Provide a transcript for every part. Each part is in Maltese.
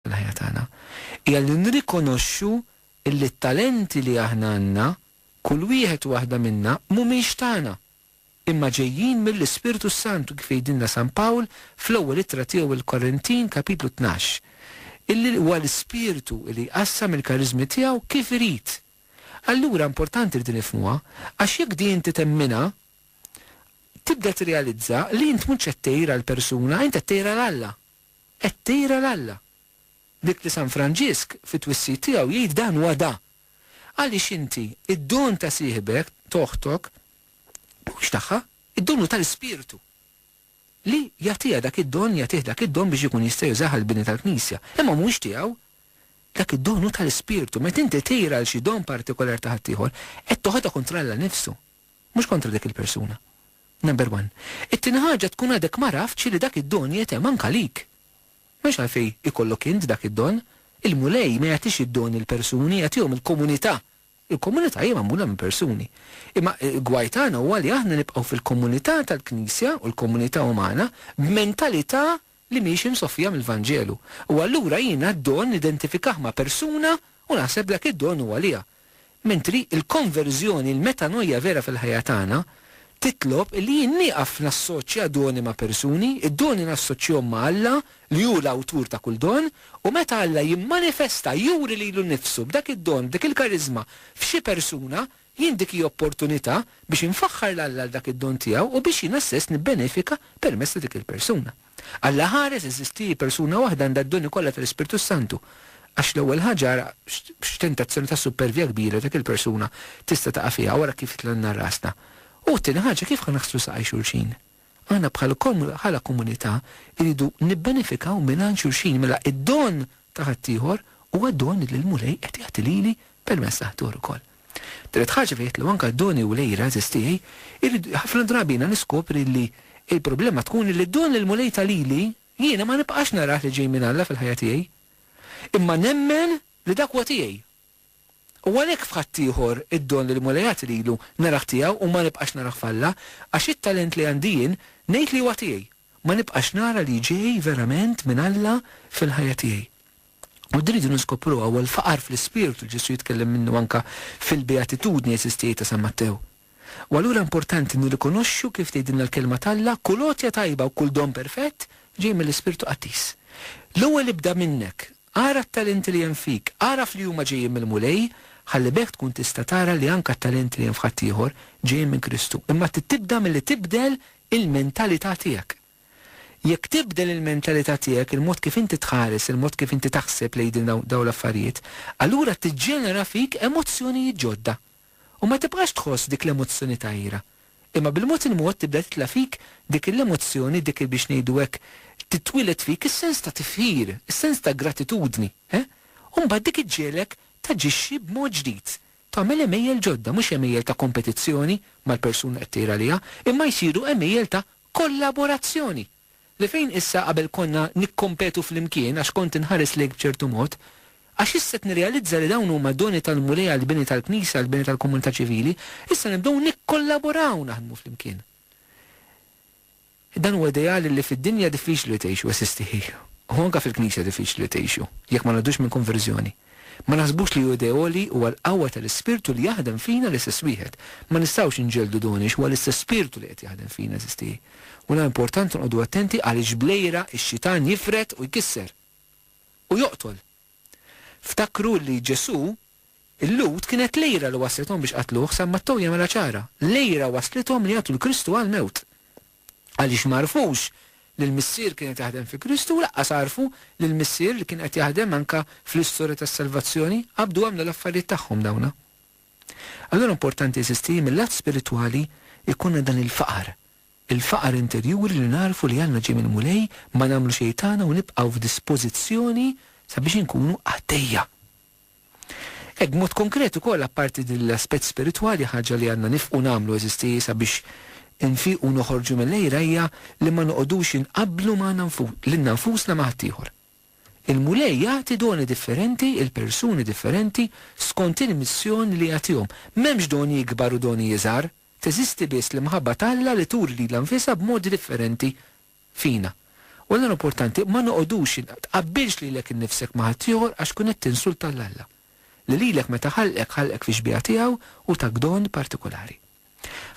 fil-ħajja tagħna hija li nrikonoxxu li t-talenti li aħna għandna, kull wieħed u waħda minna, mhumiex tagħna, imma ġejjin mill-Ispirtu s-Santu kif jgħidilna San Pawl fl-Ewwel Ittra tiegħu lill-Korintin, Kapitlu Tnax, illi huwa l-Ispirtu li jqassam il-kariżmi tiegħu kif irid. Allura importanti li din nifhmuha, għax jekk din inti temminha, tibda tirrealizza li int mhux qed tgħir għal persuna, int qed tgħir għal Alla. Qed tira 'l Alla. Dik li San Franġisk fit-twissit tiegħu jgħid dan huwa da. Għaliex inti, id-don ta' sieħbek, t'oħtok, mhuwiex tagħha, id-don hu tal-Ispirtu. Li jagħtiha dak id-don, jagħtih dak id-don biex ikun jista' jużah għall-bini tal-Knisja. Imma mhuwiex tiegħu. Dak id-don hu tal-Ispirtu. Meta inti tira 'l xi don partikolar ta' ħaddieħor, qed toħodha kontra Alla nnifsu. Mhux kontra dik il-persuna. Number one. It-tieni ħaġa tkun għadek ma għraftx li dak id-don jgħetem anke għalik. M'hemmx għalfejn ikollok int dak id-don. Il-Mulej ma jagħtix id-doni l-persuni, jagħtihom il-komunità. Il-komunità hija magħmula minn persuni. Imma l-gwaj tagħna huwa li aħna nibqgħu fil-komunità tal-Knisja u l-komunità umana b'mentalità li mhix imsoffija mill-Vanġelu. U allura jien għad-don nidentifikah ma' persuna u naħseb dak id-don hu għaliha. Mentri l-konverżjoni, il-metanoia vera fil-ħajja tagħna, titlob illi jien nieqaf nassoċja doni ma' persuni, id-doni nassoċjhom ma' Alla li hu l-awtur ta' kull don, u meta Alla jimmanifesta, juri lilu nnifsu b'dak id-don, b'dik il-kariżma, f'xi persuna, Jien dik hi opportunità biex infaħħar 'l Alla għal dak id-don tiegħu u biex jiena stess nibbenefika permezz ta' dik il-persuna. Alla ħares, eżisti, hi persuna waħda għandha d-doni kollha tal-Ispirtu s-Santu. Għax l-ewwel ħaġa ara x'tentazzjoni ta' supervja kbira dik il-persuna tista' taqa' fiha wara kif titlanna rasna. U t-tieni ħaġa kif ħa naħslu saqaj xulxin? Aħna bħal bħala komunità rridu nibbenefikaw mingħand xulxin, mela id-don ta' ħaddieħor huwa don li l-Mulej qed jagħti lili permezz ta' ħaddieħor ukoll. Tielet ħaġa fejn jgħid li anke d-doni u l-għeżież tiegħi jrid, ħafna drabi jiena niskopri li l-problema tkun li d-don li l-Mulej ta lili jiena ma nibqax narah li ġej minn Alla fil-ħajja tiegħi. Imma nemmen li dak huwa tiegħi U għalhekk f'ħaddieħor id-don li l-Mulej għati lilu narah tiegħu u ma nibqax narah f'Alla, għax it-talent li għandi jien ngħid li huwa tiegħi, ma nibqax nara li ġej verament minn Alla fil-ħajja tiegħi. U din rridu niskopruha, huwa l-faqar fl-ispirtu li Ġesù jitkellem minnu anke fil-Beatitudni Eżistijaj ta' San Mattew. U allura importanti nirrikonoxxu, kif tgħidilna l-Kelma t'Alla, kull għotja tajba u kull don perfett ġej mill-Ispirtu Qaddis. L-ewwel ibda minnek. Ara t-talenti li hemm fik. Agħraf li huma ġejjin mill-Mulej, ħalli b'hekk tkun tista' tara li anke t-talenti li hemm f'ħaddieħor ġejjin minn Kristu. Imma trid tibda milli tibdel il-mentalità tiegħek. Jekk tibdel il-mentalità tiegħek, il-mod kif inti tħares, il-mod kif inti taħseb lejn dawn l-affarijiet, allura tiġġenera fik emozzjonijiet ġodda. u ma tibqax tħoss dik l-emozzjoni ta' għira, imma bil-mod il-mod tibda titla' fik dik il-emozzjoni, dik il-biex ngħidu hekk, titwieled fik is-sens ta' tifħir, is-sens ta' gratitudni, he? U mbagħad dik iġġegħlek taġixxi b'mod ġdid, tagħmel għemejjel ġodda, mhux għemejjel ta' kompetizzjoni mal-persuna li qed tgħir għaliha, imma jsiru għemejjel ta' Kollaborazzjoni! Li fejn issa qabel konna nikkompetu flimkien għax kont inħares lejk b'ċertu mod, għax issa qed nirrealizza li dawn huma doni tal-Mulej għall-bini tal-Knisja, għall-bini tal-komunità ċivili, issa nibdew nikkollaboraw naħdmu flimkien. Dan huwa ideal li fid-dinja diffiċli li tgħixu, eżisti hi, u anke fil-Knisja diffiċli li tgħixu, jekk ma ngħaddux minn konverżjoni. Ma naħsbux li hu idea għoli, huwa l-qawwa tal-Ispirtu li jaħdem fina l-istess wieħed. Ma nistgħux inġelldu dun għiex huwa l-istess Spirtu li qed jaħdem fina, eżisti. U la importanti nqogħdu attenti għaliex bl-għira x-xitan jifred u jkisser. U joqtol. Ftakru li Ġesù, il-Lhud kienet l-għira li wasslithom biex qattluh, San Mattew jagħmilha ċara, l-għira wasslithom li jagħtu 'l Kristu għall-mewt. għaliex ma għarfux li l-Missier kien qed jaħdem fi Kristu u laqqas għarfu li l-Missier li kien qed jaħdem anka fl-istorja tas-salvazzjoni qabdu għamlu l-affarijiet tagħhom dawna. Allura importanti għeżiżti li mil-lat spiritwali jkollna dan il-faqar, il-faqar interjuri li nagħrfu li għandna ġej mill-Mulej, ma nagħmlu xejn tagħna u nibqgħu f'dispożizzjoni sabiex inkunu qaddejja. Hekk b'mod konkret ukoll apparti din l-aspett spiritwali ħaġa li għandna nifqu nagħmlu għeżisti sabiex infiqu u noħorġu mill-għira hija li ma noqogħdux inqabblu magħna lilna nfusna ma' ħaddieħor. Il-Mulej jagħti doni differenti 'il persuni differenti skont il-missjoni li jagħtihom. M'hemmx doni ikbar u doni iżgħar. Teżisti biss l-imħabba t'Alla li turi lilha nfisha b'modi differenti fina. U l-nar opportanti ma noqogħdux in, tqabbilx lilek innifsek ma' ħaddieħor għax tkun qed tinsulta lil Alla, li lilek meta ħalqek ħalqek fix-xbieha tiegħu u tak don partikulari.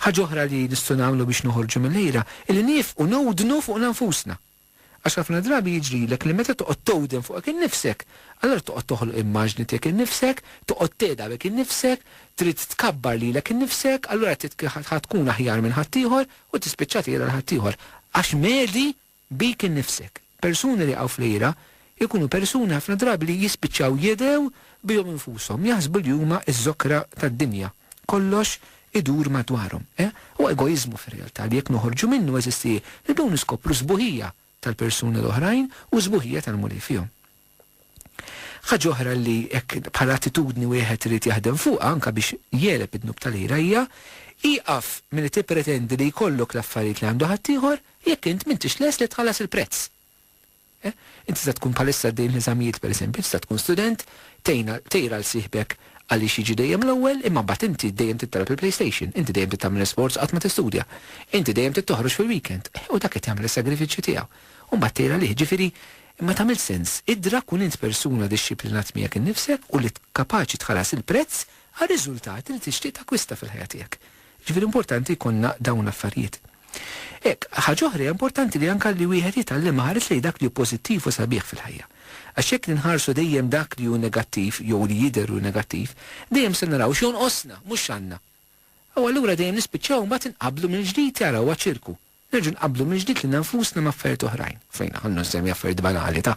Ħaġa oħra li nistgħu nagħmlu biex noħorġu mill-għira hi li niefqu nowdnu fuqna nfusna. Għax ħafna drabi jiġrilek li meta toqgħod towden fuqek innifsek, allura toqgħod toħloq immaġni tiegħek innifsek, toqgħod tegħdabek innifsek, trid tkabbar lilek innifsek, allura trid tkun aħjar minn ħaddieħor, u tispiċċa tgħira 'l ħaddieħor għax mhedi bik innifsek. Persuni li jaqgħu fl-għira jkunu persuni ħafna drabi li jispiċċaw jedhew bihom infushom, jaħsbu li huma ż-żokra tad-dinja, kollox idur madwarhom. Eh, huwa egoiżmu fir-realtà li jekk noħorġu minnu għeżiż tiegħi, nibdew niskopru s-sbuħija tal-persuni l-oħrajn u s-sbuħija tal-Mulej fihom. Ħaġa oħra li hekk bħala attitudni wieħed irid jaħdem fuqha anke biex jegħleb id-dnub tal-ira hija, Ieqaf milli tippretendi li jkollok l-affarijiet li għandu ħaddieħor jekk int m'intix lest li tħallas il-prezz. Int tista' tkun bħalissa għaddej minn eżamijiet pereżempju, tista' tkun student, tgħin tgħir għal sieħbek għaliex jiġi dejjem l-ewwel imma mbagħad inti dejjem trid tagħlab il-PlayStation, inti dejjem trid tagħmel l-isports u qatt ma tistudja. Inti dejjem trid toħroġ fil-weekend, u dak qed jagħmel is-sagrifiċċju tiegħu u mbagħad tgħir għalih. Ġifieri, Imma tagħmel sens idra kun int persuna dixxiplinat miegħek innifsek u li kapaċi tħallas il-prezz għar-riżultati li tixtieq takkwista fil-ħajja tiegħek. Jiġifieri importanti jkollna dawn l-affarijiet. Hekk, ħaġa oħra hija importanti li anke li wieħed jitgħallem iħares lejn dak li hu pożittiv u sabiħ fil-ħajja. Għax jekk ninħarsu dejjem dak li hu negattiv jew li jidher hu negattiv, dejjem se naraw x'jonqosna, mhux x'għandna. U allura dejjem nispiċċaw imbagħad inqabblu mill-ġdid, ara huwa ċirku. Nerġgħu nqabblu mill-ġdid lilna nfusna ma' affarijiet oħrajn. Fejn, ħallu nsemmi affarijiet banali ta',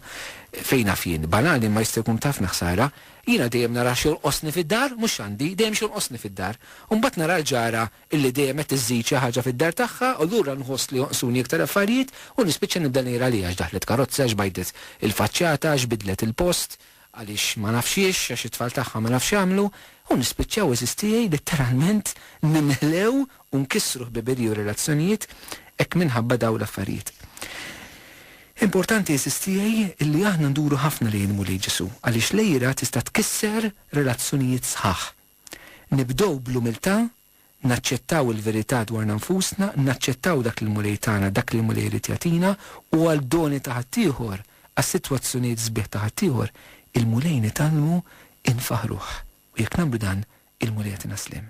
fejn naf jien, banali imma jista' jkun ta' ħafna ħsara, jiena dejjem nara x'jonqosni fid-dar, mhux x'għandi, dejjem x'jonqosni fid-dar. U mbagħad nara l-ġara illi dejjem qed iżżid xi ħaġa fid-dar tagħha u lura nħoss li jonqsuni iktar affarijiet u nispiċċa nibda ngħir għaliha, x'daħlet karozza, x'bajdet il-faċċata, x'bidlet il-post, għaliex ma nafx hiex, għax it-tfal tagħha ma nafx x'għamlu, u nispiċċaw għeżież tiegħi litteralment nimlew u nkissru ħbiberiji u relazzjonijiet hekk minħabba dawn l-affarijiet. Importanti għeżież tiegħi illi aħna nduru ħafna lejn il-Mulej Ġesù għaliex l-għira tista' tkisser relazzjonijiet sħaħ. Nibdew bl-umiltà naċċettaw il-verità dwarna nfusna, naċċettaw dak li l-Mulej tana, dak li l-Mulej irid jagħtina, u għad-doni ta' ħaddieħor, għas-sitwazzjonijiet sbieħ ta' ħaddieħor, il-Mulej nitgħallmu infaħħruh. U jekk nagħmlu dan, il-Mulej jagħtina s-sliem.